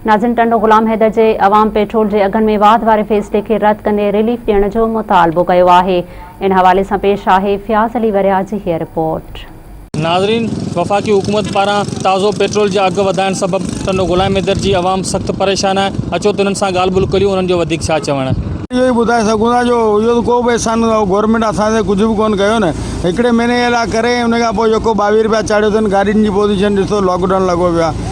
ناظرين ٽنڊو غلام حيدر جي عوام پيٽرول جي اگهن ۾ واڌ واري فيصلي کي رد ڪندي ريليف ڏيڻ جو مطالبو ڪيو آهي ان حوالي سان پيش آهي فياض علي ورياهه جي هيء رپورٽ. ناظرين وفاقي حڪومت پاران تازو پيٽرول جا اگهه وڌائڻ سبب ٽنڊو غلام حيدر جي عوام سخت پريشان آهي اچو ته انهن سان ڳالهه ٻولهه ڪريون انهن جو وڌيڪ ڇا چوڻ. اهو ئي ٻڌائي سگهون ٿا جو اهو ته ڪو به احسان نه اهو گورنمينٽ اسان تي ڪجهه به ڪونه ڪيو نه هڪڙي مهيني جي لاء ڪري ان کان پوء جيڪو ٻاويهه روپيا چاڙهيو اٿن گاڏين جي پوزيشن ڏسو لاڪ ڊائون لڳو پيو آهي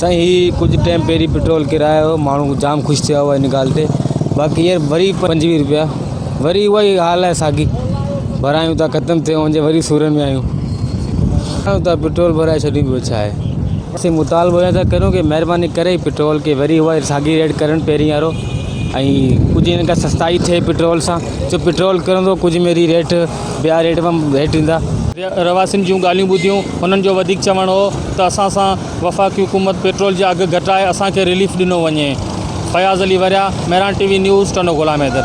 سائين هي ڪجهه ٽيم پهرين پيٽرول ڪرايو هو ماڻهو جام خوش ٿيا هئا ان ڳالهه تي باقي هينئر وري پنجويهه روپيا وري اها ئي حال آهي ساڳي ڀرايون ٿا ختم ٿيون هن جي وري سورن ۾ آيون ڪريون ٿا پيٽرول ڀرائي ڇڏيون ٻيو ڇا آهي اسين مطالبو ايئن ٿا ڪريون ڪي مهرباني ڪري پيٽرول کي وري اها ئي ساڳي ريٽ ڪرن پهرين وارو ۽ ڪجهه هن کان سستائي ٿئي پيٽرول سان جو پيٽرول ڪرندو ڪجهه ميري ريٽ ٻيا ريٽ به هيٺ ايندا. رهواسين جون ڳالهيون ٻڌيون، انهن جو وڌيڪ چوڻ هو ته اسان سان وفاقي حڪومت پيٽرول جا اگهه گهٽائي اسان کي رليف ڏنو وڃي. Fayaz Ali Warya, Mehran T V news, Tando Ghulam Haider.